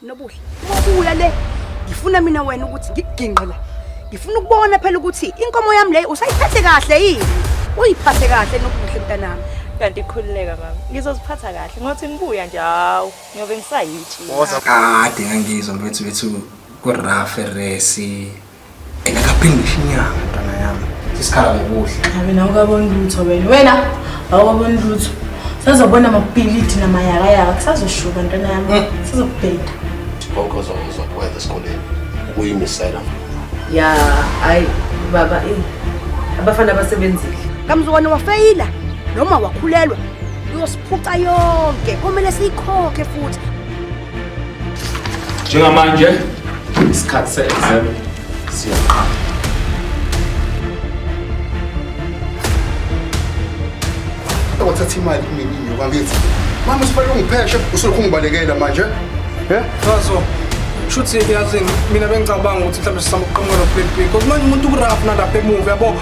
Nobuhle, ubuya le. Ngifuna mina wena ukuthi ngikuginqe la. Ngifuna ukubona phela ukuthi inkomo yami leyo usayiphathe kahle yini? Uyiphathe kahle nobuhle mntanami. Kanti ikhululeka mama. Ngizoziphatha kahle. Ngothi ngibuya nje hawu, ngiyobe ngisayitshi. Woza kade ngangizwa mfethu wethu ku-rough resi Engakaphindisha inyanga ntwana yami. Isikhala ngokuhle. Abe nawe kabona lutho wena. Wena awukaboni lutho. Sazobona amapiliti namayakayaka kusazoshuka ntwana yami. Mm. Sizokubheda. Konke ozokwenza esikoleni ukuyimisela. Ya, hayi baba eh. Abafana basebenzile. Kamzukwane wafeyila noma wakhulelwa uyosiphuca yonke. Komele siyikhokhe futhi. Njengamanje isikhathi se-exam siyaqala. Wathatha imali kumina inyuka ngithi mama usifanele ungipheshe usulokhu ungibalekela manje ye ngazo shuthi yazi mina bengicabanga ukuthi mhlawumbe sizama ukuqhamuka noblackpink kodwa manje umuntu ukuraf nalapha emuva yabo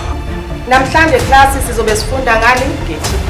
namhlanje klasi sizobe sifunda ngani nge-tb